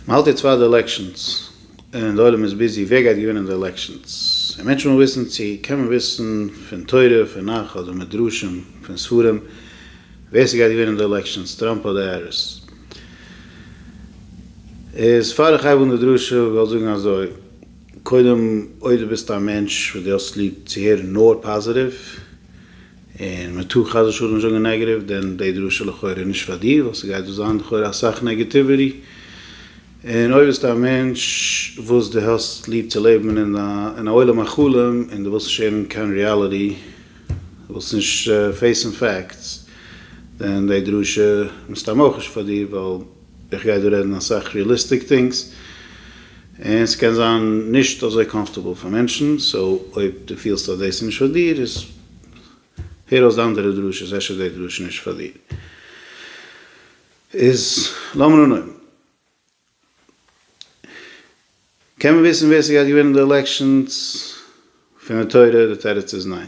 מ'האלט יעצט פאר די עלעקשאנס און די עולם איז ביזי ווער גייט געווינען די עלעקשאנס און מענטשן ווילן וויסן צו קען מען וויסן פון תורה פון נך אדער מדרשים פון ספרים ווער ס'גייט געווינען די עלעקשאנס טראמפ אדער העריס איז פאר איך הייב אן די דרשה וויל איך זאגן אזוי קודם אויב די ביסט א מענטש וואס די האסט ליב צו הערן נאר פאזעטיוו. און מען טאר חס ושלום נישט זאגן נעגעטיוו, דען די דרשה איז לכאורה נישט פאר דיר, ווייל ס'גייט דא זיין לכאורה אסאך נעגעטיוויטי, און אויב ביסטו א מענטש וואס דו האסט ליב צו לעבן אין א אין א עולם החלום, און דו ווילסט נישט הערן קיין ריאליטי, דו ווילסט נישט פעיסן פעקטס, דען די דרשה מסתם אויך נישט פאר דיר, ווייל איך גיי דא רעדן אסאך ריעליסטיק טינגס, און ס'קען זיין נישט אזוי קאמפארטעבל פאר מענטשן, סאו אויב דו פילסט אז דאס איז נישט פאר דיר, איז הער אויס די אנדערע דרשות, אפשר איז די דרשה נישט פאר דיר. איז לאמיר אנהויבן. קען מען וויסן ווער ס'גייט געווינען די עלעקשאנס פון די תורה? די תירוץ איז ניין.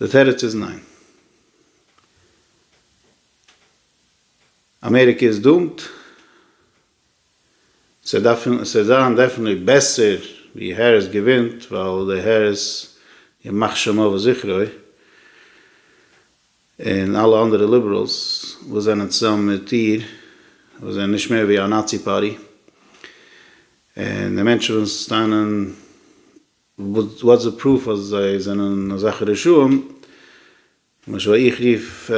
די תירוץ איז ניין. אמעריקע איז דומט. ס'וועט זיין דעפענעטלי בעסער ווי העריס געווינט ווייל די העריס ימח שמו וזכרו און אלע אנדערע ליבעראלס וואס זענען צוזאמען מיט איר וואס זענען נישט מער ווי א נאצי פארטי און די מענטשן וואס טענה'ן וואטס די פרוף אז זיי זענען אזעלכע רשעים? למשל איך רוף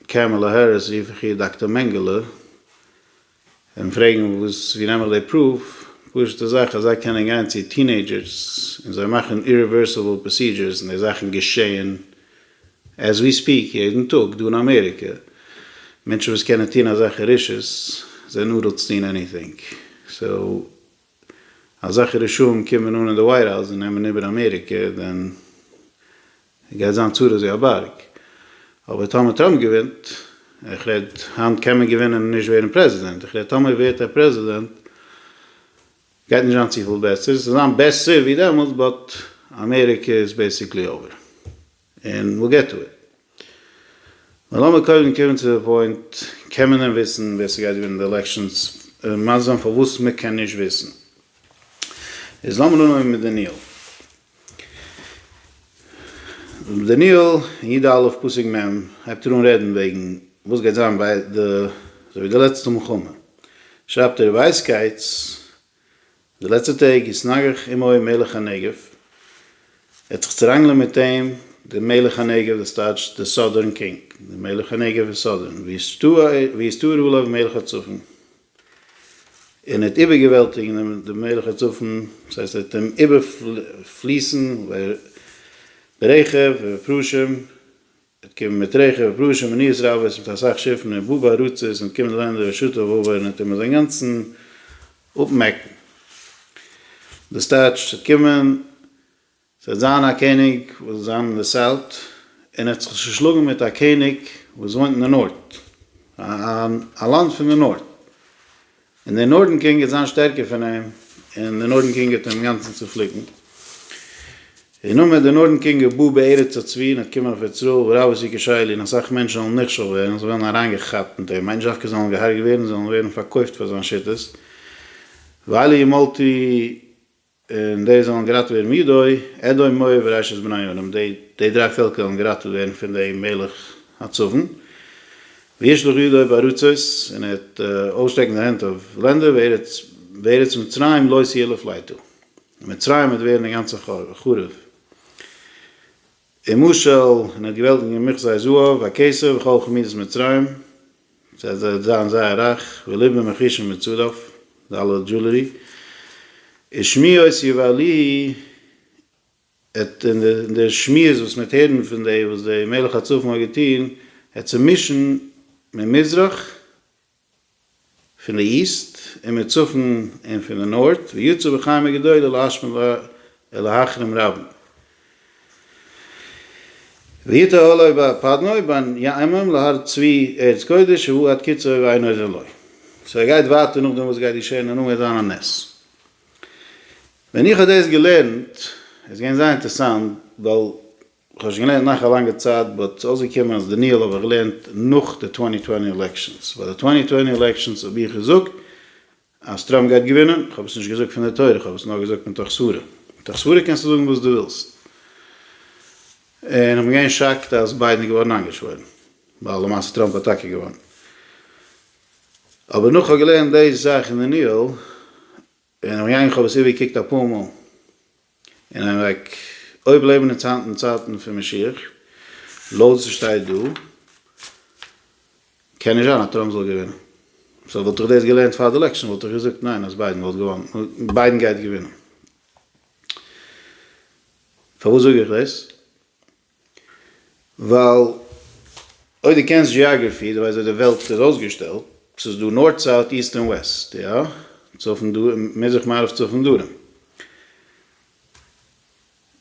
קעמעלע העריס רוף איך איר דאקטער מענגעלע און פרעגן וואס ווי נעם איך די פרוף? פשוטע זאך אז זיי קענען גיין צו טינעידזשערס און זיי מאכן אירעווערסיבעל פראסידזשערס און די זאכן געשעהן עז ווי ספיעק יעדן טאג דא אין אמעריקע. מענטשן וואס קענען טון אזעלכע רשעות זענען אדאלטס טון עניטינג סאו. אזעלכע רשעים קומען אן אין די ווייט האוז און נעמען איבער אמעריקע דען גייט זיין צרות ווי א בארג, אבער טאמער טראמפ געווינט, איך רעד היינט קען מען געווינען און נישט ווערן פרעזידענט, איך רעד טאמער ווערט ער פרעזידענט גייט נישט זיין צופיל בעסער, ס'זאל זיין בעסער ווי דעמאלטס באט אמעריקע איז בעסיקלי אווער. און וויל געט טו איט. נאר לאמיר קודם קומען צו די פוינט, קען מען דען וויסן ווער ס'גייט געווינען די עלעקשאנס? און מסביר זיין פארוואס מ'קען נישט וויסן. איז לאמיר אנהויבן מיט דניאל. דניאל אין י ד א' פסוק מ' הייבט ער אן רעדן וועגן וואס גייט זיין ביי די אזוי ווי די לעצטע מלחמה. שרייבט ער ווייסקייטס די לעצטע טעג איז נגח עמו מלך הנגב, ער האט זיך צוראנגלען מיט אים דער מלך הנגב, דאס טייטש דער סאדערן קינג, דער מלך הנגב איז סאדערן, ויסתער עליו מלך הצפון, און ער האט איבערגעוועלטיגן דעם מלך הצפון, דאס הייסט ער האט אים איבערפליסן, ברעכב ובפרושים. אט קומען מיט רעכע ופרושים און ניאות רבות מיט אסאך שיפן און באבע ארצות און אט קומען לענדער ווי שטא וואוו און אט טוען מיר זיי אינגאנצן אפמעקן. דאס טייטשט ס'וועט קומען, ס'וועט זיין א קעניג וואס וועט זיין אין די סאוט און ער וועט זיך צושלאגן מיט א קעניג וואס וואוינט אין די נארט, א לאנד פון די נארט. און דער נארדן קינג וועט זיין שטערקער פון אים, און דער נארדן קינג וועט אים אינגאנצן צופליקן. און נאכדעם דער נארדן קינג וועט בא בארץ הצבי, און וועט קומען אויף ארץ רעה, וואו רב איז יקר שי לי, און אסאך מענטשן זאלן נכשל ווערן, זיי וועלן אריינגעכאפט מיט אים, איין זשאקע זאלן געהארגעט ווערן, זיי זאלן ווערן פארקויפט פאר זיין שיטות, ואלי ימלטי. און די זאלן געראטעוועט ווערן מידוי, אדום, מואב, וראשית בני ארם, די די דריי פעלקער וועלן געראטעוועט ווערן פון דעם מלך הצפון, וישלח ידו בארצות, און ער וועט אויסשטרעקן זיין הענט אויף לענדער, וארץ וארץ מצרים לא תהיה לפליטה, און מצרים וועט ווערן אינגאנצן חרוב. און משל, און ער האט געוועלט אין געמוכזי זהב, הכסף, וכל חמידות מצרים, ס'העט זיי זיין זייער רייך, ולבן מכישון מצורף, די אלע דזשולערי, איז שמיעות יבהלי, עט און די שמועות וואס מ'העט הערן פון די וואס די מלך הצפון האט געטון, עט צומישן ממזרח, פון די איסט און מיט צפון און פון די נארט, ויצאו בחיים הגדול אל האשמים ל אל האחרים רבים. ויטע עליו ב פדנוי בין יעמים להר צבי ארץ קודש שהוא עד קצה אויב אינו זה לא. סאו ער גייט ווייטער נאכדעם וואס גייט געשען און נאכדעם וועט זיין א נס. ווען איך האב דאס געלערנט איז געווען זייער אינטערסאנט ווייל. כ'האב נישט געלערנט נאך א לאנגע צייט באט ס'איז אויסגעקומען אז דניאל האב איך געלערנט נאך די טווענטי טווענטי עלעקשאנס, ביי די טווענטי טווענטי עלעקשאנס האב איך געזאגט אז טראמפ גייט געווינען, כ'האב עס נישט געזאגט פון די תורה כ'האב עס נאר געזאגט מתוך סברה, מתוך סברה קענסטו זאגן וואס דו ווילסט, און כ'בין געווען שאקט אז ביידן איז געווארן איינגעשוואוירן, ווייל למעשה טראמפ האט טאקע געוואונען, אבער נאך כ'האב געלערנט די זאך אין דניאל און אויף יין כ'האב עס איבערגעקוקט אפאר מאל אין איין וועג, אויב לעבן אונז היינט אין צייטן פון משיח, לויט וואס ס'שטייט דא, קען נישט זיין אז טראמפ זאל געווינען. סאו וואלט איך דאס געלערנט פאר די עלעקשאן וואלט איך געזאגט ניין אז ביידן וואלט געוואנען, ביידן גייט געווינען. פארוואס זאג איך דאס? ווייל אויב דו קענסט דזשיאגרעפי, דו ווייסט ווי די וועלט איז אויסגעשטעלט, ס'איז דא נארט סאוט איסט און וועסט, יא? צפון דרום מזרח מערב צפון דרום.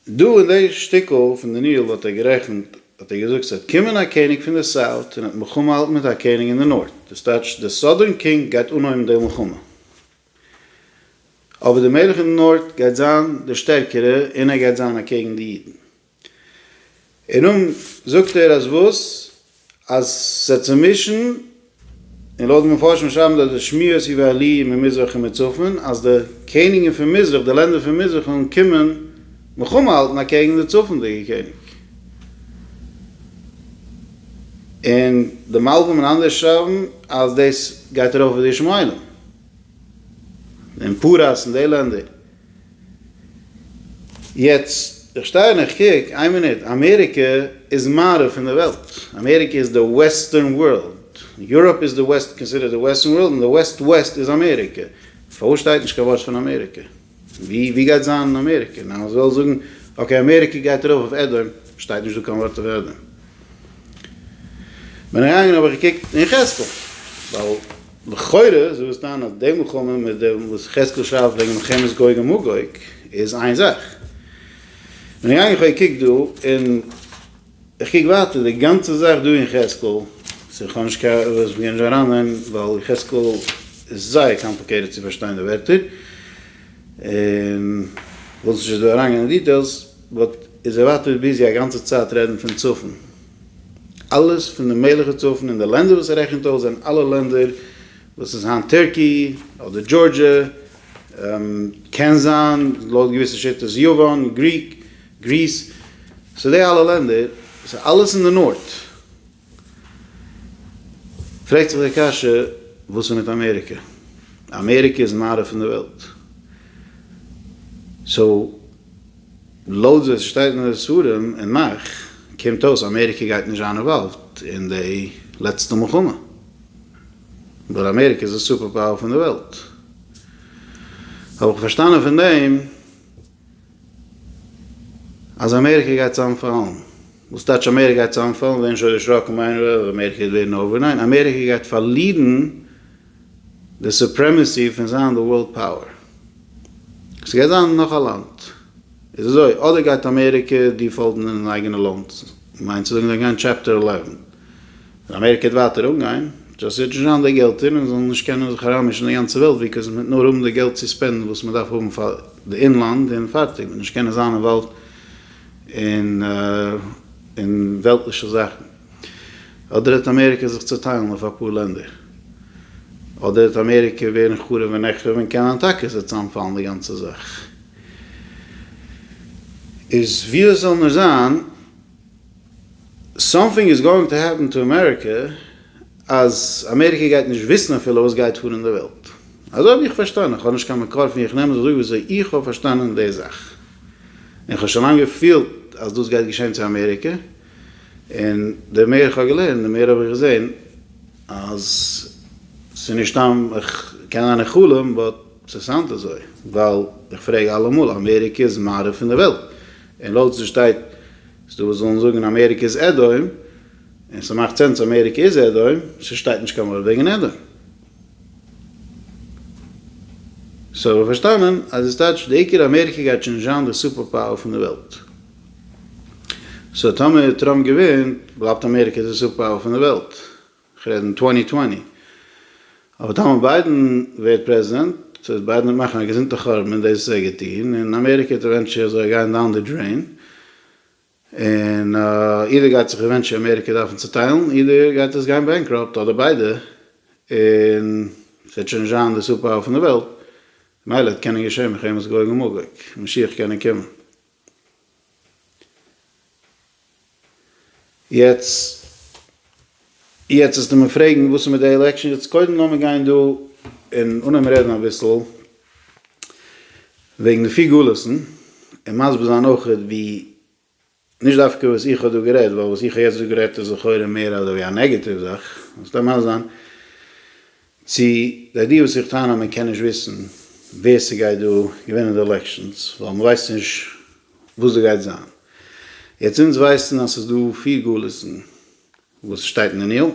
דא אין די שטיקל פון דניאל האט ער גערעכנט, האט ער געזאגט ס'וועט קומען א קעניג פון די סאוט און ער האט מלחמה האלטן מיט א קעניג אין די נארט, דאס טייטש די סאדערן קינג גייט אנהויבן די מלחמה. אבער די מלך אין די נארט גייט זיין די שטערקערע און ער גייט זיין אקעגן די אידן. און נאָך זאָגט ער, אַז װאָס? אַז ס'איז צום װישן, און לױט די מפֿרשים שרײַבן דאָרט די שמועות איבער אַ לױה ממזרח און מצפֿון, אַז די קעניגן פֿון מזרח, די לענדער פֿון מזרח, װעלן קומען מלחמה האַלטן אַקעגן די צפֿונדיקע קעניג. און די מלבֿים און אַנדערע שרײַבן, אַז דאָס גײט אַרױף װעד-ישמעאלים און פּרס און די לענדער. יעצט איך שטיי און איך קוק, איין מינוט, אמעריקע איז מערב פון די וועלט, אמעריקע איז די וועסטערן ווארלד, יוראפ איז די וועסט קאנסידערט די וועסטערן ווארלד, און די וועסט וועסט איז אמעריקע, פארוואס שטייט נישט קיין ווארט פון אמעריקע? ווי ווי גייט זיין אמעריקע? ניין אז ווילסט זאגן אקעי אמעריקע גייט ארויף אויף עדום, שטייט נישט דא קיין ווארט אויף עדום. בין איך געגאנגען האב איך געקוקט אין יחזקאל ווייל. לכאורה איז דאס טענה אז די מלחמה מיט דעם וואס יחזקאל שרייבט וועגן מלחמת גוג ומגוג איז איין זאך. בין איך געגאנגען איך האב געקוקט דא און איך קוק ווייטער די גאנצע זאך דא אין יחזקאל ס'איז כאניש נישט קיין וואס איך גיי נישט אריין אין ווייל יחזקאל איז זייער קאמפליקעיטעד צו פארשטיין די ווערטער און וויל זיך נישט דא אריינגיין אין דיטעילס באט איז ער ווייטער ביזי א גאנצע צייט רעדן פון צפון. אלעס פון די מערליכע צפון און די לענדער וואס ער רעכנט אויס זענען אלע לענדער וואס איז היינט טערקי אדער דזשארדזשע, קען זיין לויט געוויסע שיטות יוון, גריק, גריס, סאו די אלע לענדער סאו אלעס אין די נארט. פרעגט זיך די קשיא וואס איז מיט אמעריקע? אמעריקע איז מערב פון די וועלט סאו. לויט ווי עס שטייט אין די ספרים און נאך קומט אויס אמעריקע גייט נישט זיין אינוואלווד אין די לעצטע מלחמה ווייל אמעריקע איז די סופער פאוער פון די וועלט האב איך פארשטאנען פון דעם אז אמעריקע גייט צאמפאלן וואס טייטש אמעריקע גייט צאמפאלן ווערן שוין דערשראקן מיינען אז אמעריקע גייט ווערן אויף די ניין אמעריקע גייט פארלירן די סופרעמעסי פון זיין די ווארלד פאוער. ס'גייט זיין נאך א לאנד. איז אזוי, אדער גייט אמעריקע דיפאלטן אין אייגענע לאנד, מיינט צו זאגן זיי גיין טשעפטער עלעווען, און אמעריקע וועט ווייטער אנגיין, דזשאסט זיי דזשאן זיי די געלטער און זאלן נישט קענען זיך אריינמישן די גאנצע וועלט וויקאס מ'וועט נאר האבן די געלט צו ספענדן וואס מ'דארף האבן פאר די אינלאנד און פארטיג, מ'וועט נישט קענען זיין אינוואלווד אין וועלטליכע זאכן. אדער העט אמעריקע זיך צוטיילן אויף אפאר לענדער, אדער העט אמעריקע ווערן חרוב ונחרב און קענען טאקע עס וועט צוזאמפאלן די גאנצע זאך. איז ווי עס זאל נאר זיין, סאמטינג איז גאוינג טו העפן טו אמעריקע אז אמעריקע גייט נישט וויסן אפילו וואס גייט פאר אין די וועלט. אזוי ווי איך פארשטאנען, איך האב נישט קיין מקור פון ווי איך נעם עס אזוי וויאזוי איך האב פארשטאנען די זאך, און איך האב שוין לאנג געפילט אז דאס גייט געשען צו אמעריקע, און די מער איך האב געלערנט די מער האב איך געזען אז ס'איז נישט סתם איך קען זיין איך חלום באט ס'סאונד אזוי ווייל איך פרעג אלעמאל אמעריקע איז מערב פון די וועלט און לויט וואס דא שטייט ס'דא וואס ווילן זאגן אמעריקע איז עדהוים און ס'מאכט סענס אמעריקע איז עדהוים ס'שטייט נישט קיין ווארט וועגן עדהוים סאו איך האב פארשטאנען אז עס טייטש די עיקר אמעריקע גייט שוין נישט זיין די סופער פאוער פון די וועלט. סאו טאמער טראמפ געווינט בלייבט אמעריקע די סופער פאוער פון די וועלט, איך רעד אין טווענטי טווענטי, אבער טאמער ביידען ווערט פרעזידענט וועט ביידען מאכן א געזונטע חורבן און דאס איז ער געטון און אמעריקע וועט עווענטשעלי אזוי גיין דאון די דרעין און אידער גייט זיך עווענטשעלי אמעריקע דארפן צוטיילן אידער גייט עס גיין בענקראפט אדער ביידע און ס'וועט שוין נישט זיין די סופער פאוער פון די וועלט מילא האט קענען געשען מלחמת גוג ומגוג משיח קענען קומען. יעצט יעצט וועסטו מיר פרעגן וואס איז מיט די עלעקשאן, יעצט קודם לאמיר גיין דא און אנהייבן רעדן אביסל וועגן די פיר גולות'ן און מסביר זיין אויך ווי נישט דווקא וואס איך האב דא גערעדט ווייל וואס איך האב יעצט דא גערעדט איז לכאורה מער אזוי ווי א נעגעטיוו זאך, ס'קען ממש זיין. צו זיי די וואס זיך טענה'ן מען קען נישט וויסן ווער ס'גייט דא געווינען די עלעקשאנס ווייל מ'ווייסט נישט וואס דא גייט זיין. יעצט אונז ווייסן אז ס'איז דא פיר גלות'ן וואס שטייט אין דניאל.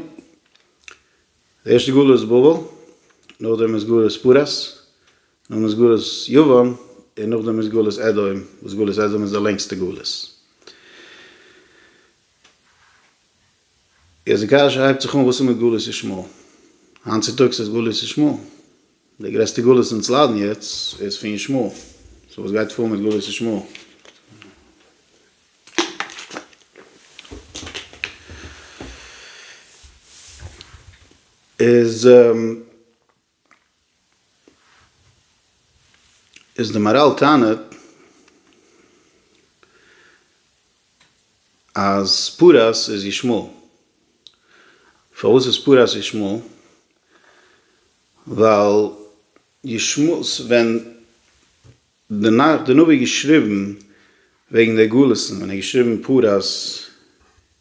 די ערשטע גלות איז בבל, נאכדעם איז גלות פרס, נאכדעם איז גלות יוון, און נאכדעם איז גלות אדום, וואס גלות אדום איז די לענגסטע גלות. איז די קשיא הייבט זיך אן וואס איז מיט גלות ישמעאל? היינט צוטאגס איז גלות ישמעאל די גרעסטע גלות אונז ליידן יעצט איז פון ישמעאל, סאו וואס גייט פאר מיט גלות ישמעאל? איז. איז די מאראל טענה'ט אז פרס איז ישמעאל. פארוואס איז פרס ישמעאל? ווייל ישמעאל, ווען די נביא האט געשריבן וועגן די גלות'ן, ווען ער האט געשריבן פרס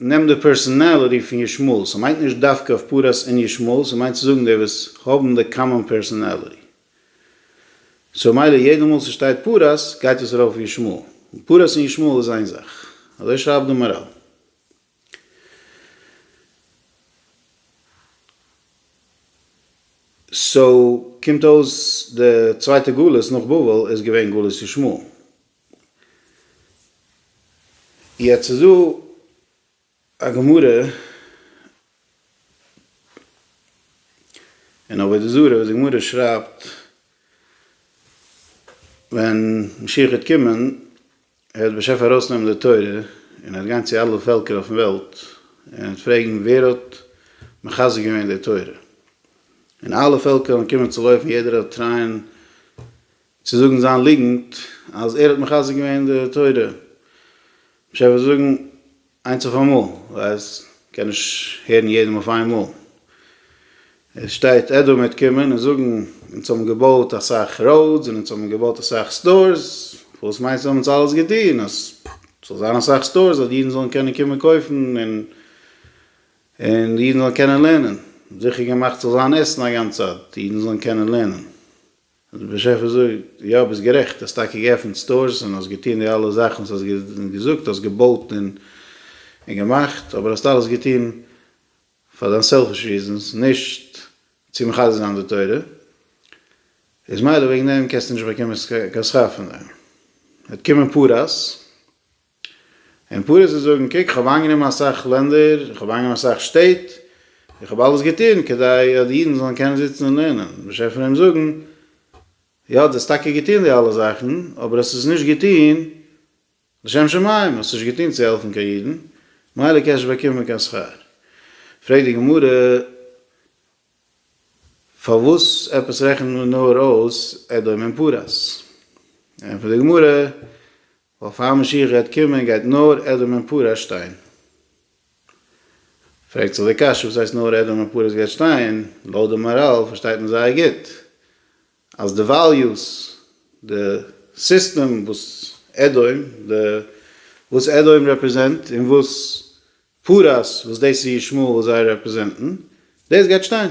נעם די פערסאנאליטי פון ישמעאל, ס'מיינט נישט דווקא אויף פרס און ישמעאל, ס'מיינט צו זאגן די וואס האבן די קאמאן פערסאנאליטי. סאו מילא יעדע מאל ס'שטייט פרס גייט עס ארויף אויף ישמעאל, און פרס און ישמעאל איז איין זאך. אזוי שרייבט די מאראל. סאו קומט אויס די צווייטע גלות נאך בבל איז געווען גלות ישמעאל. יעצט איז דא א גמרא אין עבודה זרה וואס די גמרא שרייבט ווען משיח וועט קומען ער וועט בשפע ארויסנעמען די תורה און ער וועט גיין צו אלע פעלקער אויפן וועלט און ער וועט פרעגן ווער האט מחזק געווען די תורה און אלע פעלקער וועלן קומען צו לויפן יעדער וועט טרייען צו זאגן זיין ליגנט אז ער האט מחזק געווען די תורה, מ'שטעלט פאר זיי זאגן איינס אויף אמאל, ווייל מ'קען נישט הערן יעדעם אויף איין מאל, עס שטייט עדו מיט קומען און זאגן אונז האבן געבויט אסאך ראודס און אונז האבן געבויט אסאך סטארס, וואס מיינסטו האבן אונז אלעס געטון אז ס'זאל זיין אסאך סטארס אז אידן זאלן קענען קומען קויפן און און אידן זאלן קענען לערנען, זיכער געמאכט ס'זאל זיין עסן א גאנץ צייט, אידן זאלן קענען לערנען. דער באשעפער זאגט, יא ביסט גערעכט, האסט טאקע געעפנט סטארס און האסט געטון די אלע זאכן וואס האסט געזאגט, האסט געבויט און געמאכט, אבער האסט אלעס געטון פאר דיין סעלפיש ריזענס, נישט צו מחזק זיין די תורה, איז מילא וועגן דעם קענסטו נישט באקומען קיין שכר פון דעם, וועט קומען פרס. און פארעסט וועט זאגן, קוק, איך האב איינגענומען אסאך לענדער, איך האב איינגענומען אסאך שטעט, איך האב אלעס געטון כדי אז די אידן זאלן קענען זיצן און לערנען. באשעפער וועט אים זאגן, יא, דו האסט טאקע געטון די אלע זאכן, אבער האסט עס נישט געטון לשם שמים, האסט נישט געטון צו העלפן קיין אידן, ממילא קענסט נישט באקומען קיין שכר. פרעגט די גמרא, פארוואס עפעס רעכנט מען נאר אויס אדום און פרס? ענטפערט די גמרא, ווייל פאר משיח גייט קומען גייט נאר עדום און פרס שטיין. פרעגט זיך די קשיא וואס הייסט נאר עדום און פרס גייט שטיין? לויט די מאראל פארשטייט מען זייער גוט אז די וועליוס, די סיסטעם וואס עדום, די וואס עדום רעפרעזענט און וואס פרס וואס דאס איז ישמעאל וויל זיי רעפרעזענטן, דאס גייט שטיין.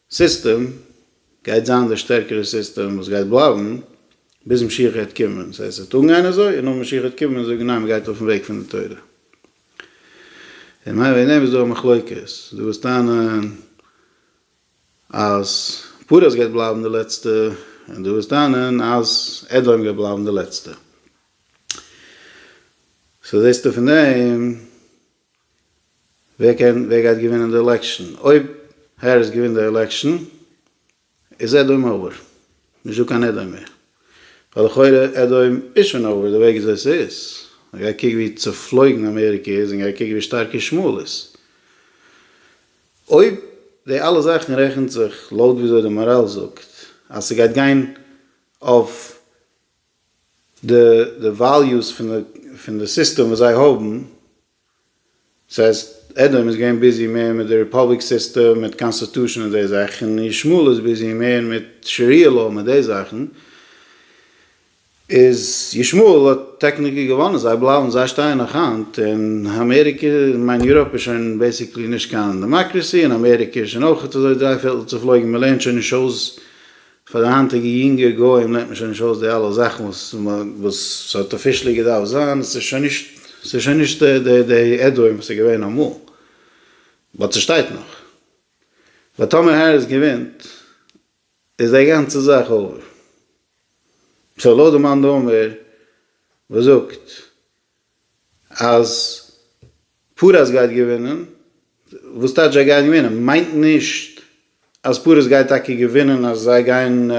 סיסטעם גייט זיין דער שטערקערע סיסטעם וואס גייט בלייבן ביז משיח העט קומען, ס'הייסט ס'וועט אנגיין אזוי און נאך משיח העט קומען זאגן ניין מ'גייט אויפן וועג פון די תורה. און מיין וועגן דעם איז דא א מחלוקת, דו וואס טענה'ן אז פרס גייט בלייבן די לעצטע און דו וואס טענה'ן אז אדום גייט בלייבן די לעצטע. סאו זעסטו פון דעם. ווער קען ווער גייט געווינען די עלעקשאן? אויב העריס געווינט די עלעקשאן איז עדאום אווער, נישט דא קיין עדאום מער, ווייל לכאורה עדאום איז שוין אווער די וועג וויאזוי עס איז, גיי קוק ווי צופלויגן אמעריקע איז און גיי קוק ווי שטארק ישמעאל איז. אויב די אלע זאכן רעכנט זיך לויט וויאזוי די מאראל זאגט אז ס'גייט גיין אויף די וועליוס פון די סיסטעם וואס זיי האבן, דאס הייסט עדום איז געווען ביזי מער מיט די ריפאבליק סיסטעם, מיט קאנסטיטושען און די זאכן, און ישמעאל איז ביזי מער מיט שריעה לאו מיט די זאכן, איז ישמעאל האט טעקניקלי געוואנען, זיי בלייבן, זיי שטייען נאך היינט, און אמעריקע, איך מיין יוראפ איז שוין בעיסיקלי נישט קיין דעמאקרעסי, און אמעריקע איז שוין אויכעט אזוי דריי פערטל צופלויגן, מ'לערנט שוין נישט אויס פאר די היינטיגע יונגע גוים לערנט מען שוין נישט אויס די אלע זאכן וואס וואס ס'האט אפישעלי געדארפט זיין, ס'איז שוין נישט ס'איז שוין נישט די די די עדהוים וואס איז געווען אמאל, באט ס'שטייט נאך. באט טאמער העריס געווינט איז די גאנצע זאך אויווער. סאו לויט די מאן דאמר וואס זאגט אז פרס גייט געווינען, וואס טייטש זיי גייען געווינען? מיינט נישט אז פרס גייט טאקע געווינען אז זיי גייען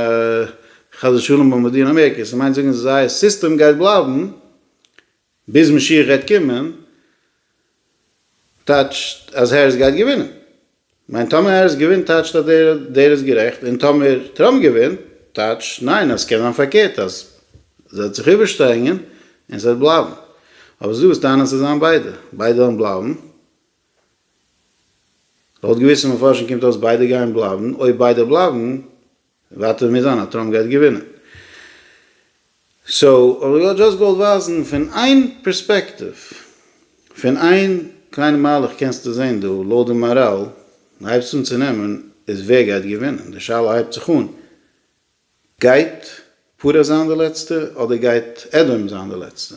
חס ושלום באמבאדירן אמעריקע, ס'מיינט זאגן אז זייער סיסטעם גייט בלייבן ביז משיח גייט קומען, טייטשט אז העריס גייט געווינען? ניין טאמער העריס געווינט טייטשט אז דער איז גערעכט און טאמער טראמפ געווינט טייטשט ניין אז סקען זיין פארקערט אז זי וועט זיך איבערשטרענגען און סוועט בלייבן אבער סדא וואס טענה'ן סוועט זיין ביידע ביידע וועלן בלייבן לויט געוויסע מפרשים קומט אויס ביידע גייען בלייבן אויב ביידע בלייבן ווייטער מוז זיין אז טראמפ גייט געווינען. סאו האב איך דזשאסט געוואלט ווייזן פון איין פערספעקטיוו, פון איין קליינע מהלך קענסטו זעהן דא לויט די מאראל הייבסט אן צו נעמען איז ווער גייט געווינען, די שאלה הייבט זיך אן גייט פרעה זיין די לעצטע אדער גייט עדום זיין די לעצטע?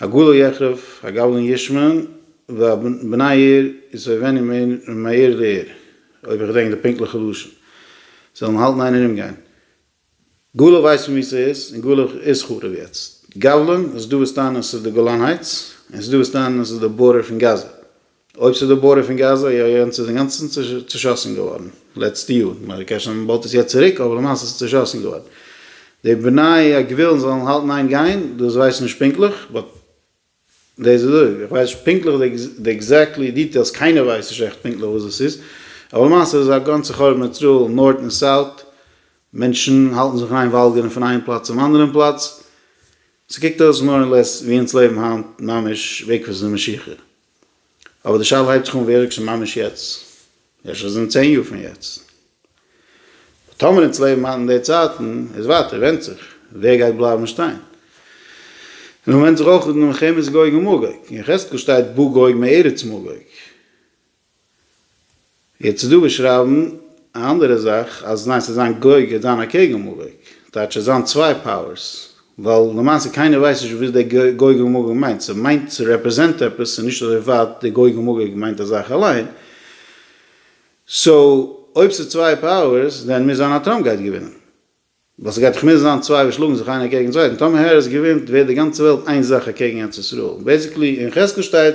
הגאולה יחרב הגבלן ישמן והבני עיר יסובבני מעיר לעיר, אויב איך געדענק די פונקטליכע לשון, זאלן האלטן איין און אומגיין. גאולה ווייסט מען וואו ס'איז, און גאולה איז חרוב יעצט. גבלן, עס איז דא וואס טענה'ן עס איז די גולן הייטס, און עס איז דא וואס טענה'ן עס איז די בארדער פון גאזא. אויב ס'איז דא בורא פון גאזא, איא איא און ס'איז אינגאנצן צושאסן געווארן לעצטע יאר, כ'מיין זיי קעשן אן באלד עס יעצט צוריק, אבער למעשה ס'איז צושאסן געווארן. די בני הגביל'ן זאלן האלטן איין גיין, דאס ווייס איך נישט פונקטליך, באט דאס איז אויב, איך ווייס נישט פונקטליך די עקזעקטלי דיטעילס, קיינער ווייסט נישט עכט פונקטליך וואס דאס איז, אבער למעשה איז עס א גאנצע חורבן איזראעל נארט און סאוט, מענטשן האלטן זיך אריין וואלגערן פון איין פלאץ צום אנדערן פלאץ, ס'קוקט אויס מאר און לעס ווי אונז לעבן היינט ממש בעקבות די משיכה. אבער די שאלה הייבט זיך אן ווירקסן ממש יעצט, אפשר איז אין צען יאר פון יעצט, אבער טאמער אונז לעבן היינט אין די צייטן איז ווייטער ווענדט זיך ווער גייט בלייבן שטיין, און מען ווענדט זיך אויך אין מלחמת גוג ומגוג, אין יחזקאל שטייט בא גוג מארץ מגוג, יעצט איז דא וואס שרייבן א אנדערע זאך אז ניין ס'איז זיין געוג און זיין אקעגן מאגוג, טייטש ס'איז זיין צוויי פאוערס, ווייל למעשה קיינער ווייסט נישט וואס דער געוג און מאגוג מיינט, ס'מיינט ס'רעפרעזענט עפעס, ס'איז נישט אזוי ווייט דער געוג און מאגוג מיינט א זאך אליין, סאו אויב ס'איז צוויי פאוערס דען מוז זיין אז טראמפ גייט געווינען, ווייל ס'גייט דאך מוזן זיין צוויי וואס שלאגן זיך איינער אקעגן צווייטן, טאמער העריס געווינט ווערט די גאנצע וועלט איין זאך אקעגן ארץ ישראל, בעיסיקלי אין יחזקאל שטייט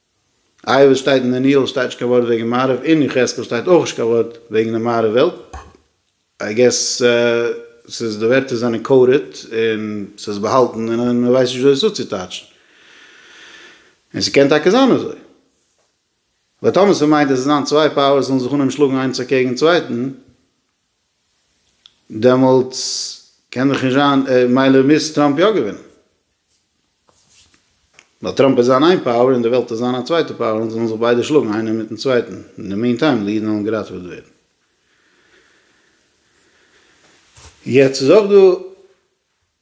איי וואס שטייט אין דניאל שטייט נישט קיין ווארט וועגן מערב אין יחזקאל שטייט אויך נישט קיין ווארט וועגן די מערב וועלט איי געס ס'איז די ווערטער זענען קאודעד און ס'איז באהאלטן און מען ווייסט נישט ווי עס צוצוטייטשן און ס'קען טאקע זיין אזוי ווייל טאמער ס'מיינט אז עס זיין צוויי פאוערס זאלן זיך אנהייבן שלאגן איינס אקעגן צווייטן. דעמאלטס קען דאך נישט זיין מילא מוז טראמפ יא געווינען ווייל טראמפ איז זיין איין פאוער און די וועלט איז זיין א צווייטע פאוער און זיי זאלן זיך ביידע שלאגן איינער מיטן צווייטן אין די מין טיים די אידן וועלן געראטעוועט ווערן. יעצט איז אויך דא.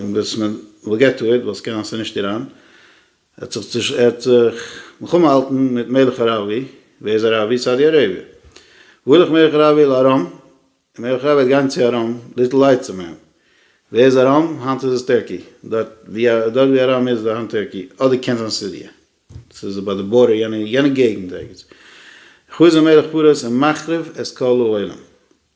און וואס מען וויל געט טו איט, ווייל ס'קען זיין ס'נישט איראן, ער האט זיך ער האט זיך מלחמה געהאלטן מיט מלך אראבי, ווער איז אראבי? סאודי אראביע, וואו ילך מלך אראבי? אל ארם, און מלך אראבי וועט גיין צו ארם, ליטל לייט צום אים, ווער איז ארם? היינט איז עס טערקי, דארט ווי ארם איז איז היינט טערקי, אדער קען זיין סיריע, ס'איז ביי די בארדער יענע געגענט ערגעץ, חזר מלך פרס און מחריב את כל העולם.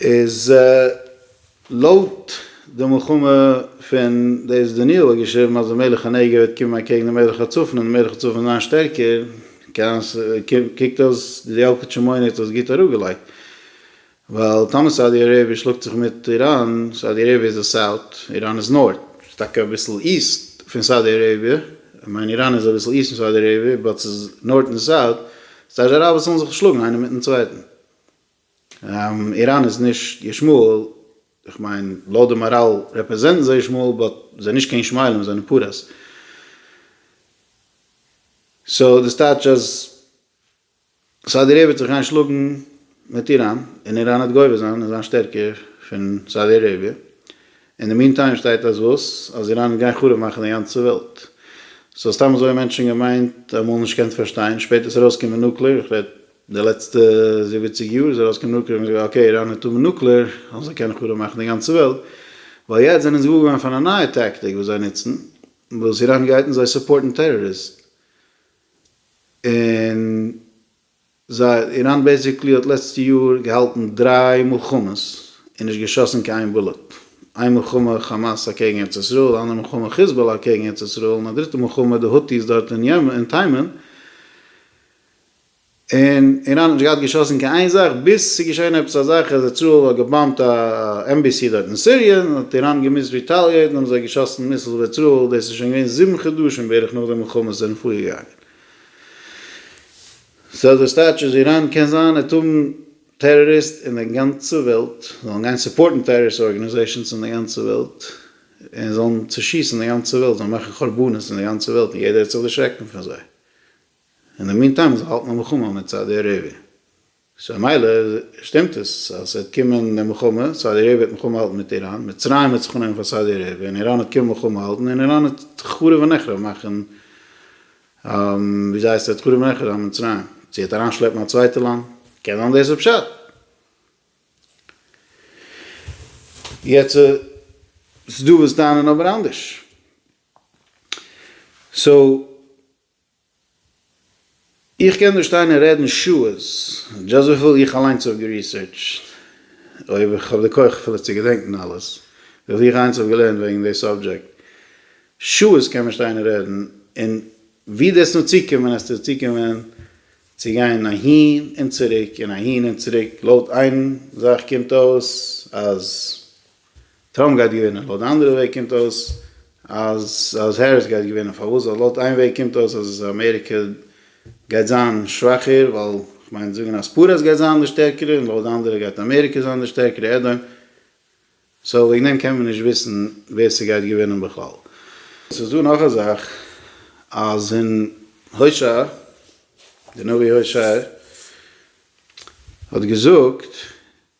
איז לויט די מלחמה פון דאס דניאל האט געשריבן אז די מלך הנגב וועט קומען אקעגן די מלך הצפון און די מלך הצפון וועט זיין שטערקער כעין ש קוקט אויס די אלקוטשע מונה האט עס גוט אראפגעלייגט ווייל טאמער סאודי אראביע שלאגט זיך מיט איראן סאודי אראביע איז די סאוט איראן איז נארט ס'איז טאקע אביסל איסט פון סאודי אראביע כ'מיין איראן איז אביסל איסט פון סאודי אראביע באט ס'איז נארט און סאוט סאודי אראבער זאלן זיך שלאגן איינער מיטן צווייטן. איראן איז נישט ישמעאל, איך מיין לויט די מאראל רעפרעזענטן זיי ישמעאל באט זענען נישט קיין ישמעאלים זיי זענען פרעס. סאו דאס טייטש אז סאודי אראביע וועט זיך גיין שלאגן מיט איראן און איראן וועט גובר זיין און זיין שטערקער פון סאודי אראביע. אין די מין טיים שטייט אז וואס? אז איראן גיין חרוב מאכן די גאנצע וועלט? סאו סתם אזוי האבן מענטשן געמיינט אמאל נישט געקענט פארשטיין, שפעטער איז ארויסגעקומען נוקלער, איך רעד די לעצטע זיבעציג יאר איז ארויסגעקומען נוקלער האט מען געזאגט אקעי איראן וועט האבן נוקלער אז זיי קענען חרוב מאכן די גאנצע וועלט, ווייל יעצט זענען זיי געוואר געווארן פון א נייע טאקטיק וואס זיי נוצן וואס איראן גייט און זיי סופארטן טעראריסטן און. זיי, איראן בעסיקלי האט לעצטע יאר געהאלטן דריי מלחמות און נישט געשאסן קיין איין בולעט. איין מלחמה חאמאס אקעגן ארץ ישראל, א אנדערע מלחמה חיזבאלא אקעגן ארץ ישראל, און א דריטע מלחמה די הוטי'ס דארט אין יעמען אין תימן, און איראן האט נישט געהאט געשאסן קיין איין זאך, ביז ס'איז געשען עפעס א זאך אז איזראעל האט געבאמבט א עמבעסי דארט אין סיריע, און האט איראן געמוזט ריטאליעיטן האבן זיי געשאסן מיסלס אויף איזראעל, דאס איז שוין געווען זיבן חדשים בערך נאך די מלחמה זענען פארגעגאנגען. סאו דאס טייטש אז איראן קען זיין אטאם טעראריסט און די גאנצע וועלט זאלן גיין סופארטן טעראריסט ארגאניזעישאנס אין די גאנצע וועלט און זאלן צושיסן די גאנצע וועלט זאלן מאכן חורבנות אין די גאנצע וועלט און יעדער וועט זיך דערשרעקן פון זיי אין די מין טיים זיי האלטן א מלחמה מיט סאודי אראביע. סאו מילא שטימט עס אז ס'וועט קומען די מלחמה, סאודי אראביע וועט מלחמה האלטן מיט איראן, מצרים וועט זיך אננעמען פאר סאודי אראביע, און איראן וועט קומען מלחמה האלטן, און איראן וועט חרוב ונחרב מאכן, וויאזוי הייסט עס וועט חרוב ונחרב זיין מצרים? זי וועט אריינשלעפן א צווייטע לאנד? קען זיין דאס איז פשט. יעצט ס'דא וואס טענה'ן אבער אנדערש. סאו איך קען דא שטיין און רעדן שעות, דזשאסט וויפיל איך אליינס האב געריסערטשט, אויב איך האב די כח אפילו צו געדענקן אלעס, וויפיל איך אליינס האב געלערנט וועגן די סאבדזשעקט, שעות קען מען שטיין און רעדן, און ווי דו וועסט נאר צוקומען וועסטו צוקומען צו גיין אהין און צוריק און אהין און צוריק, לויט איין זאך קומט אויס אז טראמפ גייט געווינען, לויט די אנדערע וועג קומט אויס אז אז העריס גייט געווינען, פארוואס? ווייל לויט איין וועג קומט אויס אז אמעריקע גייט זיין שוואכער, ווייל כ'מיין זאגן אז פרס גייט זיין די שטערקערע, און לויט די אנדערע גייט אמעריקע זיין די שטערקערע, עדהאון סאו וועגן דעם קען מען נישט וויסן ווער ס'גייט געווינען בכלל. ס'איז דא נאך א זאך, אז אין הושע, די נביא הושע האט געזאגט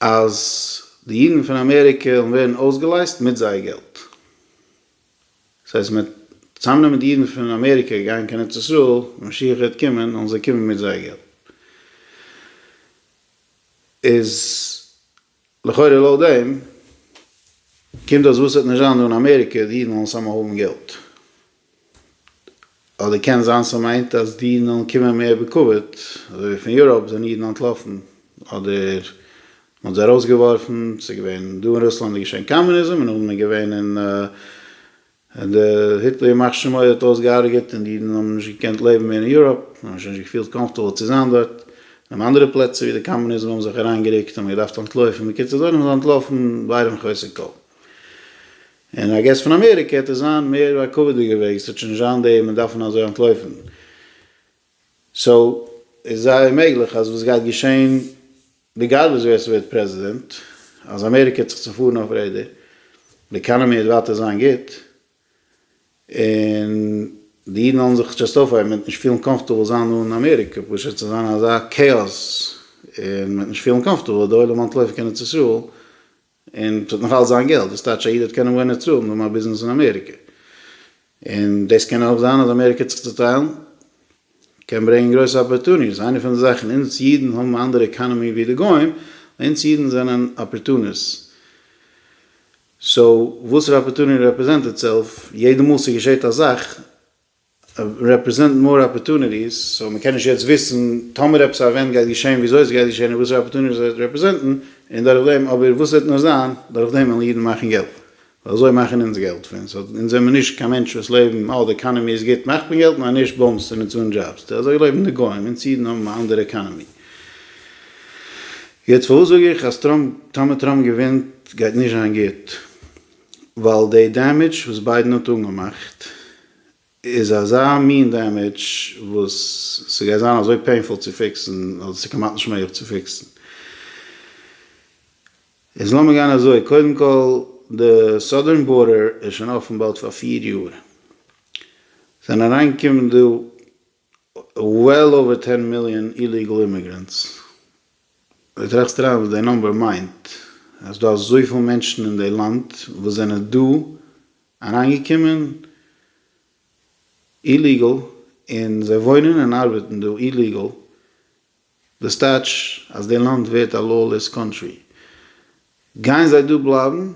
אז די אידן פון אמעריקע וועלן ווערן אויסגעלייזט מיט זייער געלט. דאס הייסט מ'וועט צוזאמנעמען די אידן פון אמעריקע גייען קיין ארץ ישראל ווען משיח וועט קומען וועלן זיי קומען מיט זייער געלט. איז לכאורה לויט דעם קומט אויס וואס ס'וועט נישט זיין דא אין אמעריקע די אידן וועלן סאמהאו האבן געלט. אדער קען זיין ס'מיינט אז די אידן זאלן קומען מער בכבוד, אזוי ווי פון יוראפ זענען אידן אנטלאפן, אדער מ'האט זיי ארויסגעווארפן, ס'איז געווען דא אין רוסלאנד איז געשען קאמוניזם און נאכדעם איז געווען אין די היטלער ימח שמו האט אויס געהארגעט און די אידן האבן נישט געקענט לעבן מער אין יוראפ, זיי האבן זיך נישט געפילט קאמפטעבל צו זיין דארט, און אנדערע פלעצער ווי די קאמוניזם האבן זיך אריינגערוקט האט מען געדארפט אנטלויפן, בקיצור זיי זענען אנטלאפן ביירם חוסר כל. און איי געס פון אמעריקע העט עס זיין מער א כבוד'דיגע וועג, עס העט שוין נישט זיין די מ'דארפן אזוי אנטלויפן. סאו איז זייער מעגליך אז וואס גייט געשעהן ריגארדלעס ווער ס'ווערט פרעזידענט, אז אמעריקע העט זיך צופארן אויף רעדער, די עקאנאמי העט ווייטער זיין גוט, און די אידן וועלן זיך זשאסט אויפהייבן, מ'וועט נישט פילן קאמפארטעבל זיין אן אמעריקע, פשוט ס'וועט זיין אזא כאאס און מ'וועט נישט פילן קאמפארטעבל, די עולם אנטלויפן קיין ארץ ישראל, און ס'וועט נאך אלץ זיין געלט, וואס טייטש א איד וועט קענען וואוינען אצלו און האבן א ביזנעס אין אמעריקע. און דאס קען אויך זיין אז אמעריקע צו צוטיילן קען ברענגען גרויסע אפערטוניס, איינע פון די זאכן, אונז אידן האבן א אנדערע עקאנעמי ווי די גוים, אונז אידן זענען אפערטוניס. סאו וואסערע אפערטוני רעפרעזענט איטסעלף, יעדע מאל ס'געשעט א זאך רעפרעזענט מאר אפערטוניטיס, סאו מען קען נישט יעצט וויסן טאמער עפעס א עווענט גייט געשען וויאזוי עס גייט געשען און וואסערע אפערטוניטיס עס וועט רעפרעזענטן און דורך דעם אבער וואס עס וועט נאר זיין דורך דעם וועלן אידן מאכן געלט ווייל אזוי מאכן אונז געלט פון סאו אונז זעמיר נישט קיין מענטשן וואס לעבן אה די עקאנעמי איז גוט מאכט מען געלט נאר נישט באמס און אונז אן דזשאבס די אזוי לעבן די גוים אונז אידן האבן א אנדערע עקאנעמי. יעצט פארוואס זאג איך אז טראמפ טאמער טראמפ געווינט גייט נישט זיין גוט? ווייל די דעמעדזש וואס ביידען האט אנגעמאכט איז אזא מין דעמעדזש וואס ס'גייט זיין אזוי פעינפול צו פיקסן אז עס איז כמעט נישט מעגליך צו פיקסן. איז לאמיר גיין אזוי, קודם כל די סאדערן בארדער איז שוין אפן באלד פאר פיר יאר, ס'זענען אריינגעקומען דא וועל אווער טען מיליאן איליגעל אימיגרענטס, דו טראכסט אריין וואס די נאמבער מיינט? אז ס'דא אזויפיל מענטשן אין די לאנד וואס זענען דא אריינגעקומען איליגעל און זיי וואוינען און ארבעטן דא איליגעל, דאס טייטש אז די לאנד ווערט א לאולעס קאנטרי? גייען זיי דא בלייבן?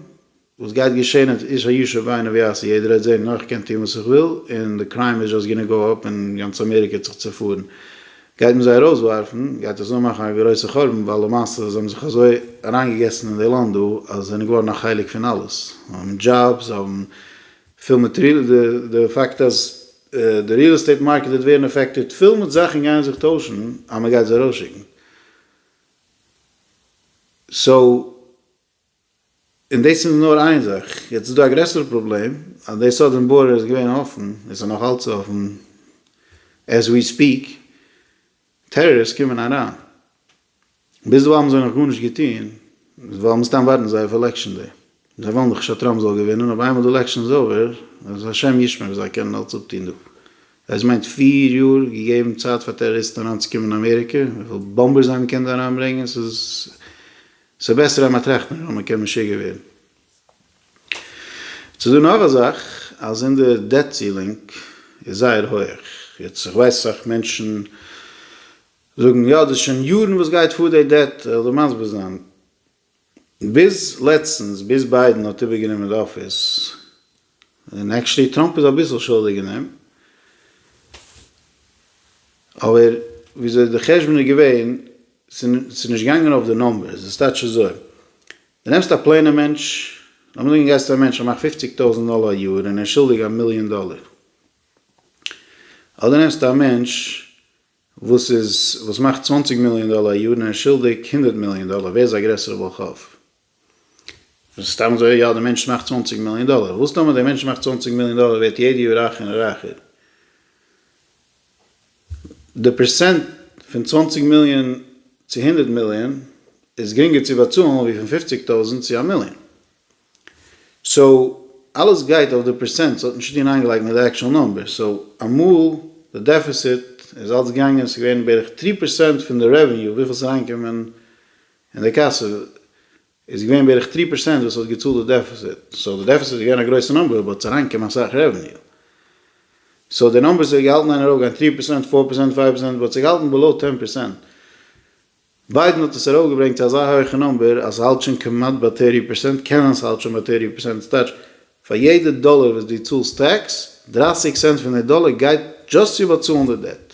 וואס גייט געשען אז איש הישר בעיניו יעשה? יעדער העט זען נאר איך קען טון וואס איך וויל און די קריים איז זשאסט גאנא גאו אפ און גאנץ אמעריקע וועט זיך צופארן? גייט מען זיי ארויסווארפן? גייט דאס אנמאכן א גרויסע חורבן ווייל למעשה זיי האבן זיך אזוי אריינגעגעסן אין די לאנד דא אז זיי זענען געווארן א חלק פון אלעס? זיי האבן דזשאבס, זיי האבן פיל מעטריאל, די פאקט אז די ריעל עסטעיט מארקעט וועט ווערן אפעקטעד, פול מיט זאכן גייען זיך טוישן אז מען גייט זיי ארויסשיקן, סאו און דאס איז נאר איין זאך, יעצט איז דא א גרעסערע פראבלעם אז די סאדערן בארדער איז געווען אפן, עס איז נאך אלץ אפן עז ווי ספיעק, טעראריסט קומען אריין, ביזדערווייל האבן זיי נאך גארנישט געטון, ווייל מן הסתם ווארטן זיי אויף עלעקשן דעי. זיי ווילן דאך נישט אז טראמפ זאל געווינען, אבער איינמאל די עלעקשן איז אווער, אז השם ישמור וואס זיי קענען אלץ אפטון דא. עס מיינט פיר יאר געגעבן צייט פאר טעראריסטן אריינצוקומען אין אמעריקע, וויפיל באמבעס זיי האבן געקענט דא אריינברענגען, ס'איז בעסער אז מען טראכט נישט ווייל מען קען משוגע ווערן. יעצט איז דא נאך א זאך, אז אונזער דעט סילינג איז זייער הויעך, יעצט איך ווייס אסאך מענטשן זאגן יא דאס איז שוין יארן וואס גייט פאר די דעט כ'וועל דיר מסביר זיין ביז לעצטנס ביז ביידן האט איבער גענומען די אפיס און עקשעלי טראמפ איז אביסל שולדיג אין דעם אבער וויאזוי די חשבון איז געווען ס'איז נישט געגאנגען אויף די נומבערס עס טייטש אזוי די נעמסט א פלעינע מענטש לאמיר זאגן גייסט צו א מענטש ער מאכט פופציג טויזענט דאלער א יאר און ער איז שולדיג א מיליאן דאלער אדער נעמסטו א מענטש וואס איז וואס מאכט צוואנציג מיליאן דאלער א יאר נאר שולדיג הונדערט מיליאן דאלער ווער איז א גרעסערע בעל חוב? סתם אזוי יא די מענטש מאכט צוואנציג מיליאן דאלער וואס טאמער די מענטש מאכט צוואנציג מיליאן דאלער ווערט יעדע יאר רייכער און רייכער די פערסענט פון צוואנציג מיליאן צו הונדערט מיליאן איז גרינגער צו באצאלן ווי פון פופציג טויזענט צו א מיליאן. סאו אלעס גייט אויף די פערסענט ס'האט נישט צוטון איינגעלייגט מיט די עקשאל נומבערס סאו אמאל די דעפיסיט איז אלס געגאנגען ס'איז געווען בערך טרי פערסענט פון די רעוועניו וויפיל ס'איז אריינגעקומען אין די קאסע איז געווען בערך טרי פערסענט וואס האט געצאלט די דעפיסיט סאו די דעפיסיט איז געווען א גרויסע נומבער באט ס'איז אריינגעקומען אסאך רעוועניו סאו די נומבערס איז געהאלטן איין ארויפגיין טרי פערסענט פאר פערסענט פייוו פערסענט באט ס'איז געהאלטן בעלאו טען פערסענט ביידען האט עס ארויפגעברענגט צו אזא הויכע נומבער אז ס'האלט שוין כמעט ביי טערטי פערסענט, קען זיין ס'האלט שוין ביי טערטי פערסענט, דאס טייטש פאר יעדע דאלער וואס דו צאלסט טעקס, דרייסיג סענט פון די דאלער גייט דזשאסט צו באצאלן די דעט.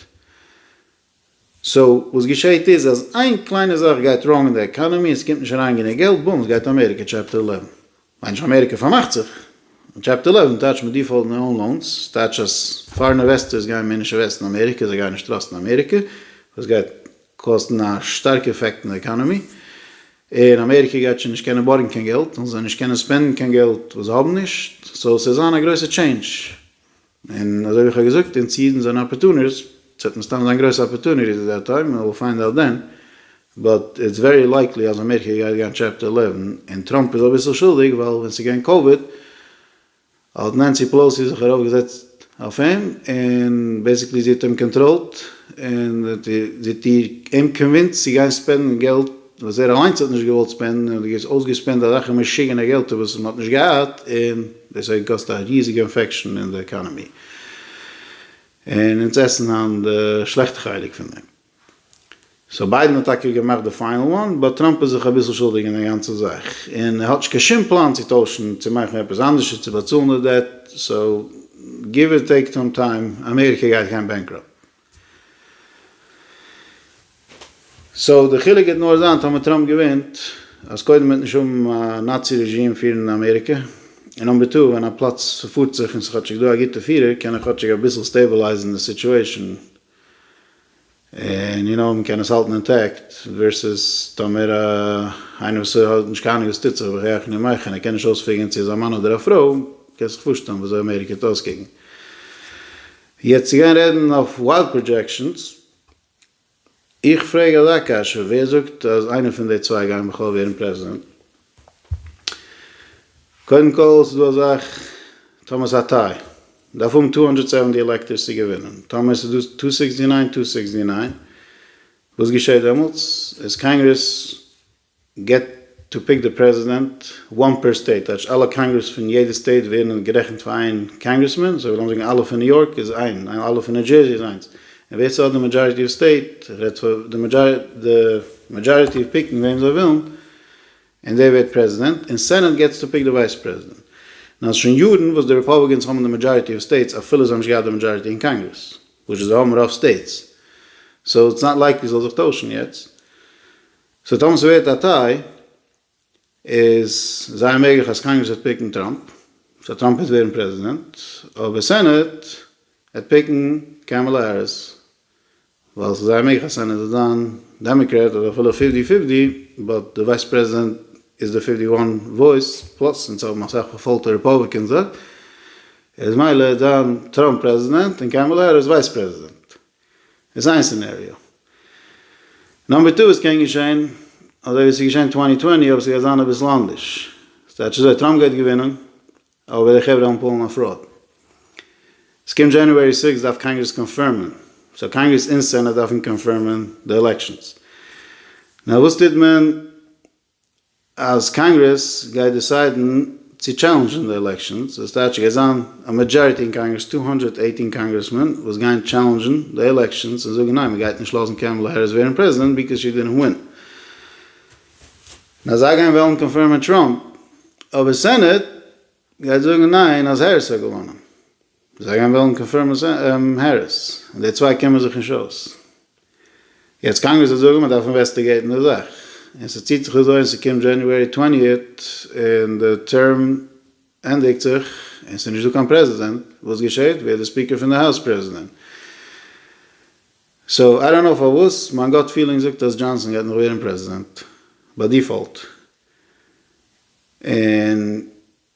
סאו וואס געשעהט איז אז איין קליינע זאך גייט ראנג אין די עקאנעמי און ס'קומט נישט אריין גענוג געלט, בום, ס'גייט אמעריקע טשעפטער עלעווען. מיין איך אמעריקע פארמאכט זיך. טשעפטער עלעווען טייטשט מיט דיפאלט נאו אן לאונס, ס'טייטשט אז פארען אינוועסטערס גייען מער נישט אינוועסטן אין אמעריקע, זיי גייען נישט טראסטן אמעריקע, וואס גייט קאסטן א שטארקע עפעקט אין די עקאנעמי, און אמעריקע גייט שוין נישט קענען בארגן קיין געלט, און זיי נישט קענען ספענדן קיין געלט וואס זיי האבן נישט, סאו ס'וועט זיין א גרויסע טשעינדזש, און אזוי ווי איך האב געזאגט, אונז אידן זענען אפערטונירס, ס'וועט מסתם זיין גרויסע אפערטוניטיס עט דעט טיים, וויל פיינד אוט דען, באט איטס ווערי לייקלי אז אמעריקע גייט גיין טשעפטער עלעווען, און טראמפ איז אביסל שולדיג, ווייל ווען ס'איז געווען קאוויד, האט נענסי פעלאוסי זיך ארויף געזעצט אויף אים, און בעסיקלי זי האט אים קאנטראלט, און זי האט אים קאנווינסט צו גיין ספענדן געלט וואס ער אליינס האט נישט געוואלט ספענדן און האט געס אויסגעספענדט אזעלכע משוגענע געלטער וואס מען האט נישט געהאט און דאס האט געקאסט א ריזיגע אינפעקשאן אין די עקאנעמי און אונז עסן היינט די שלעכטע חלק פון דעם סאו ביידן האט טאקע געמאכט די פיינעל וואן באט טראמפ איז זיך אביסל שולדיג אין די גאנצע זאך און ער האט נישט קיין שום פלאן צו טוישן צו מאכן עפעס אנדערשער צו באצאלן די דעט סאו גיוו אר טעיק טאם טיים אמעריקע גייט גיין בענקראפט. סאו די חילוק גייט נאר זיין טאמער טראמפ געווינט אז קודם וועט נישט האבן א נאצי רעזשים פירן אמעריקע און נאמבער טו ווען א פלאץ ס'פארט זיך און ס'איז כאטשיג דא א גוטע פירער קען ער כאטשיג אביסל סטעבעלייזן די סיטשועישן און יו נאו מ'קען עס האלטן אינטעקט ווערסעס טאמער איינער וואס האט נישט קיין אנונג וואס טוט זיך בחייך אני מיך און ער קען נישט אויספיגערן צו איז א מאן אדער א פרוי קענסט זיך פארשטעלן וויאזוי אמעריקע וועט אויסקוקן. יעצט צו גיין רעדן אויף ווייל פראדזשעקשאנס, איך פרעג אזא קשיא, ווער זאגט אז איינער פון די צוויי גייען בכלל ווערן פרעזידענט? קודם כל ס'איז דא א זאך, טאמער ס'איז א טיי, דארף האבן טו האנדרעט סעווענטי עלעקטארס צו געווינען, טאמער ס'איז דא טו סיקסטי ניין, טו סיקסטי ניין, וואס געשעט דעמאלטס? איז קאנגרעס געט טו פיק די פרעזידענט וואן פער סטעיט, טייטש אלע קאנגרעס פון יעדע סטעיט ווערן גערעכנט פאר איין קאנגרעסמען, סאו לאמיר זאגן אלע פון ניו יארק איז איין, און אלע פון ניו דזשערזי איז איינס, און ווער ס'האט די מעדזשאריטי אוו סטעיט, רעדט פאר די מעדזשאריטי אוו פיקן וועם זיי ווילן, און דער ווערט פרעזידענט, און סענעט געטס טו פיק די ווייס פרעזידענט. נאר ס'איז שוין יארן וואס די רעפאבליקענס האבן די מעדזשאריטי אוו סטעיטס אפילו זיי האבן נישט געהאט די מעדזשאריטי אין קאנגרעס, וויטש איז זיי האבן רוב סטעיטס, סאו איטס נאט לייקלי ס'זאל זיך טוישן יעצט. סאו טאמער ס'ווערט א טיי איז זייער מעגליך אז קאנגרעס וועט פיקן טראמפ, סאו טראמפ וועט ווערן פרעזידענט, אבער סענעט וועט פיקן קעמעלע העריס, ווייל ס'איז זייער מעגליך אז סענעט וועט זיין דעמעקרעט אדער אפילו פיפטי פיפטי, באט די ווייס פרעזידענט איז די פיפטי וואן וואויס פלאס אונז האבן אסאך פארפאלטע רעפאבליקענסער, איז מילא דאן טראמפ פרעזידענט און קעמעלע העריס ווייס פרעזידענט. איז איין סינעריאו. נאמבער טו, עס קען געשען אזוי ווי עס איז געשען אין צוואַנציק צוואַנציק אבער עס גייט זיין אביסל אנדערש. ס'טייטש אזוי, טראמפ גייט געווינען אבער די חברה וועלן פאלן אויף פראוד. עס קומט דזשענעווערי סיקס דארף קאנגרעס קאנפירמען. סאו קאנגרעס אין סענאט דארפן קאנפירמען די עלעקשאנס. נאר וואס טוט מען אז קאנגרעס גייט דיסיידן צו טשעלענדזשן די עלעקשאנס, דאס טייטש ס'גייט זיין א מעדזשאריטי אין קאנגרעס, טו הונדערט עיטין קאנגרעסמען, וואס גייען טשעלענדזשן די עלעקשאנס און זאגן ניין מ'גייט נישט לאזן קעמעלע העריס ווערן פרעזידענט ביקאוז שי דידענט ווין. און אז זיי גייען וועלן קאנפירמען טראמפ, אבער סענעט גייט זאגן ניין אז העריס האט געוואנען. זיי גייען וועלן קאנפירמען העריס, און די צוויי קומען זיך נישט אויס. יעצט קאנגרעס וועט זאגן מען דארף אינוועסטיגעיטן די זאך, און ס'ציט זיך אזוי און ס'קומט דזשעניוערי טווענטיעט און די טערם ענדיגט זיך און ס'איז נישט דא קיין פרעזידענט, וואס געשעהט? ווערט די ספיקער פון די האוז פרעזידענט. סאו איי דאנט נאו פארוואס מיין גאט פילינג זאגט אז דזשאנסאן גייט נאך ווערן פרעזידענט ביי דיפאלט, און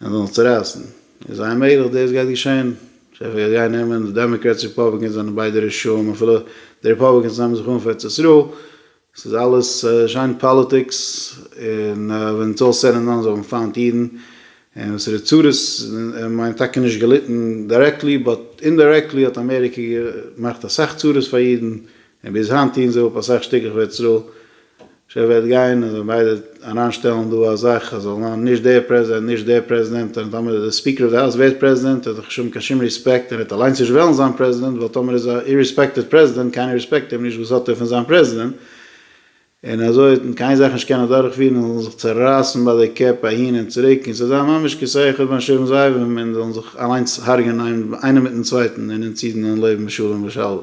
און זיי זאלן צורייסן. איז זייער מעגליך דאס גייט געשען. שפע גייט גיין נעמען די דעמאקרעטס רעפאבליקענס זענען ביידע רשעים אפילו די רעפאבליקענס נעמען זיך אן פאר ארץ ישראל. ס'איז אלעס שיין פאליטיקס און ווען איטס אלל סעד ענד דאן זיי האבן פיינט אידן און וואס ר' צרות מיינט טאקע נישט געליטן דירעקטלי באט אינדירעקטלי האט אמעריקע געמאכט אסאך צרות פאר אידן און ביז היינט טוען זיי אפ אסאך שטיקלעך פאר ארץ ישראל ש וועט גיין און ביידע אריין שטעלן דא א זאך אז זאל זיין נישט דער פרעזידענט נישט דער פרעזידענט און טאמער די ספיקער אוו די האוז ווערט פרעזידענט האט ער נישט האבן קיין שום ריספעקט און ער וועט אליינס נישט וועלן זיין פרעזידענט ווייל טאמער איז א איריספעקטעד פרעזידענט קיינער ריספעקט אים נישט וואס האט ער פון זיין פרעזידענט און אזוי וועט מען קיין זאך נישט קענען אדורך פירן און זאלן זיך צורייסן ביי די קעפ אהין און צוריק און ס'זאל זיין ממש כסה אחד בין שבעים זאבים און זאלן זיך אליינס הרג'ענען איינער מיטן צווייטן און אונז אידן זאלן לעבן בשלום ושלווה.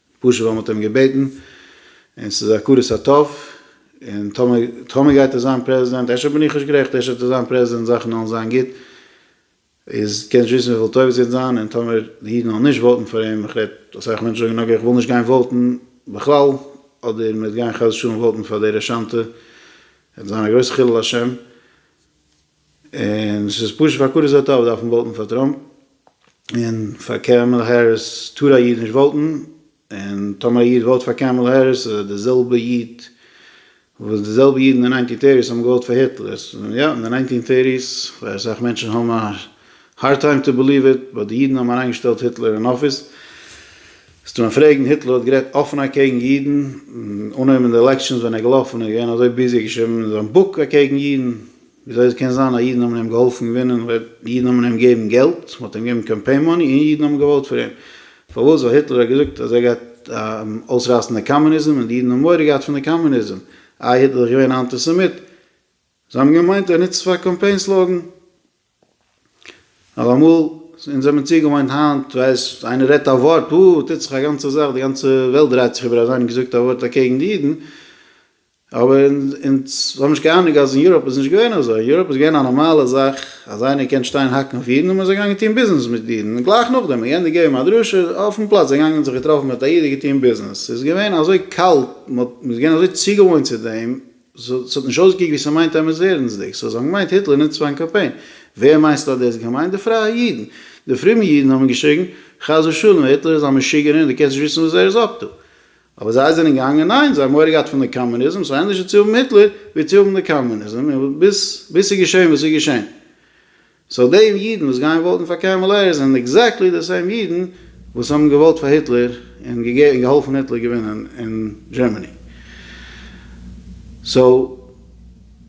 פשוט ווייל מ'האט אים געבעטן, און ס'איז הכרת הטוב, און טאמער טאמער גייט ער זיין פרעזידענט, אפשר בין איך נישט גערעכט, אפשר וועט ער זיין פרעזידענט זאכן וועלן זיין גוט, איז קענסט נישט וויסן וויפיל טובות ס'וועט זיין, און טאמער די אידן וועלן נישט וואוטן פאר אים, איך רעד, אסאך מענטשן זאגן אקעי איך וויל נישט גיין וואוטן בכלל, אדער מ'וועט גיין חס ושלום וואוטן פאר די רשענטע, וועט זיין א גרויסע חילול השם. און ס'איז פשוט פאר קארוזאו טאוו דארף מען וואוטן פאר טראמפ, און פאר קעמעלע העריס טאר א איד נישט וואוטן, און טאמער א איד וואוט פאר קעמעלע העריס איז ער די זעלבע איד וואס די זעלבע אידן אין ניינטין טערטיס האבן געוואוט פאר היטלער, סאו יא אין די ניינטין טערטיס ווער אסאך מענטשן האבן א הארד טיים טו בעליוו איט באט די אידן האבן אריינגעשטעלט היטלער אין אפיס, זאלסטו מיין פרעגן היטלער האט גערעדט אפען אקעגן אידן, אנהויבן אין די עלעקשאנס ווען ער געלאפן און געווען אזוי ביזי ער האט געשריבן אין זיין בוק אקעגן אידן, וויאזוי עס קען זיין אז אידן האבן אים געהאלפן געווינען, אידן האבן אים געגעבן געלט, מען האט אים געגעבן קאמפיין מאני און אידן האבן געוואוט פאר אים. פארוואס? ווייל היטלער האט געזאגט אז ער גייט אויסרייסן די קאמוניזם און די אידן האבן מורא געהאט פון די קאמוניזם. איי היטלער איז געווען א אנטיסעמיט? זיי האבן געמיינט ער נוצט עס פאר א קאמפיין סלאגאן. אויף אמאל, אונז האבן צוגעוואוינט היינט, ווייסט, איינער רעדט א ווארט, וואו, טוט זיך א גאנצע זאך, די גאנצע וועלט דרייט זיך איבער אז איינער האט געזאגט א ווארט אקעגן די אידן, אבער אונז האבן נישט קיין אנונג אז אין יוראפ איז נישט געווען אזוי, אין יוראפ איז געווען א נארמאלע זאך אז איינער קען שטיין האקן אויף אידן און מ'איז געגאנגען טון ביזנעס מיט אידן, און גלייך נאכדעם האט יענער געגעבן א דרשה אויפן פלאץ, זיי געגאנגען זיך געטראפן מיט א איד און געטון ביזנעס, ס'איז געווען אזוי קאלט, מ'האט, מ'איז געווען אזוי צוגעוואוינט צו דעם, סאו ס'האט נישט אויסגעקוקט ווי ס'מיינט עמערס ערענסדיג, סאו זיי האבן געמיינט היטלער נוצט פארן קאמפיין. ווער מיינסטו האט דאס געמיינט? די פרייע אידן. די פרומע אידן האבן געשריגן, חס ושלום, היטלער איז א משוגענער און דו קענסט נישט וויסן וואס ער איז אפטו. אבער זיי זענען געגאנגען, ניין, זיי האבן מורא געהאט פון די קאמוניזם, סאו ענדערשער צו האבן היטלער ווי צו האבן די קאמוניזם, און ביז ס'איז געשען וואס ס'איז געשען. סאו די אידן וואס גייען וואוטן פאר קעמעלע העריס זענען עקזעקטלי די סעים אידן וואס האבן געוואוט פאר היטלער און געהאלפן היטלער געווינען אין דזשערמעני. סאו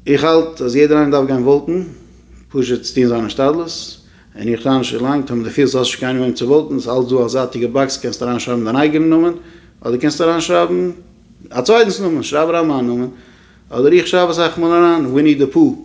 איך האלט אז יעדער איינער דארף גיין וואוטן, פשוט צו טון זיין השתדלות, און איך טענה שוין לאנג, טאמער די פילסט אז האסט נישט קיינעם וועם צו וואוטן, ס'איז אלץ דא א זייטיגע באקס, קענסט אריינשרייבן דיין אייגענע נאמען, אדער קענסט אריינשרייבן א צווייטנס נאמען, שרייב אריין מיין נאמען, אדער איך שרייב אסאך מאל אריין וויני די פו,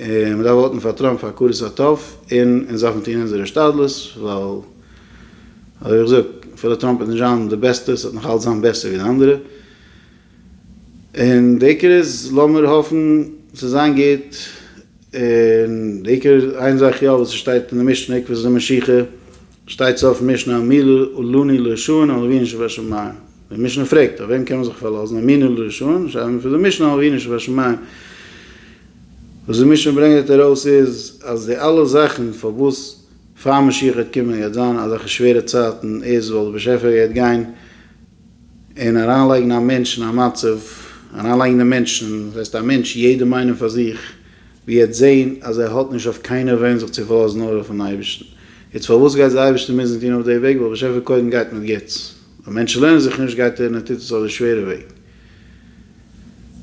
און מ'דארף וואוטן פאר טראמפ פאר הכרת הטוב, און אונז דארפן טון אונזער השתדלות, ווייל אזוי ווי איך זאג, אפילו טראמפ איז נישט זיין די בעסטע, ס'וועט נאך אלץ זיין בעסער ווי די אנדערע, און די עיקר איז לאמיר האפן ס'וועט זיין גוט, און די עיקר איין זאך יא וואס ס'שטייט אין די משנה עקבתא דמשיחא, שטייט סוף משנה אמינו לני לישון על אבינו שבשמים, די משנה פרעגט אויף וועם קען מען זיך פארלאזן אמינו לישון שרייבט מען פון די משנה על אבינו שבשמים, וואס די משנה ברענגעט ארויס איז אז די אלע זאכן פארוואס פאר משיח גייט קומען גייט זיין אזעלכע שווערע צייטן איז ווייל די באשעפער גייט גיין און אריינלייגן א מענטש אין א מצב, אריינלייגן די מענטש אין, דאס הייסט א מענטש, יעדעם איינעם פאר זיך, ווי ער וועט זען אז ער האט נישט אויף קיינער וועם זיך צו פארלאזן נאר אויפן אייבערשטן. יעצט פארוואס גייט דער אייבערשטער מוזן טון אויף די וועג? ווייל באשעפער קודם גייט מיט גוטס. ווען מענטשן לערנען זיך נישט גייט ער און ער טוט עס אויף די שווערע וועג.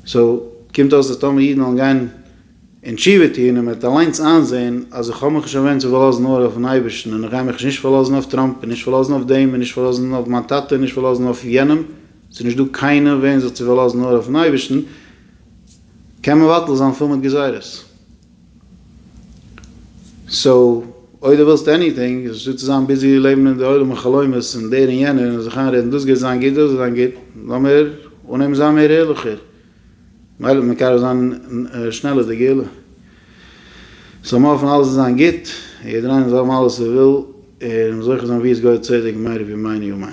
סאו, קומט אויס אז טאמער אידן וועלן גיין און תשובה טון און מען וועט אליינס איינזען אז איך האב מיך נישט אווענדט צו פארלאזן נאר אויפן אייבערשטן און איך גיי מיך נישט פארלאזן אויף טראמפ און נישט פארלאזן אויף דעם און נישט פארלאזן אויף מיין טאטע און נישט פארלאזן אויף יענעם, ס'איז נישט דא קיינער אויף וועם זיך צו פארלאזן נאר אויפן אייבערשטן, קען מבטל זיין פול מיט גזירות. סאו אויב דו ווילסט עניטינג איז נישטא צו זיין ביזי לעבן אין די עולמי חלומות און דער און יענער און זיך איינרעדן דאס גייט זיין גוט דאס גייט זיין גוט, לאמיר אנהייבן זיין מער ערליכער. מילא ווען קאר וועט זיין שנעל איז די געלע זאל מען האפן אלעס וועט זיין גוט און יעדער איינער זאל האבן אלעס ער וויל און זוכה זיין ווי עס גייט צדק מהר א בימינו אמן.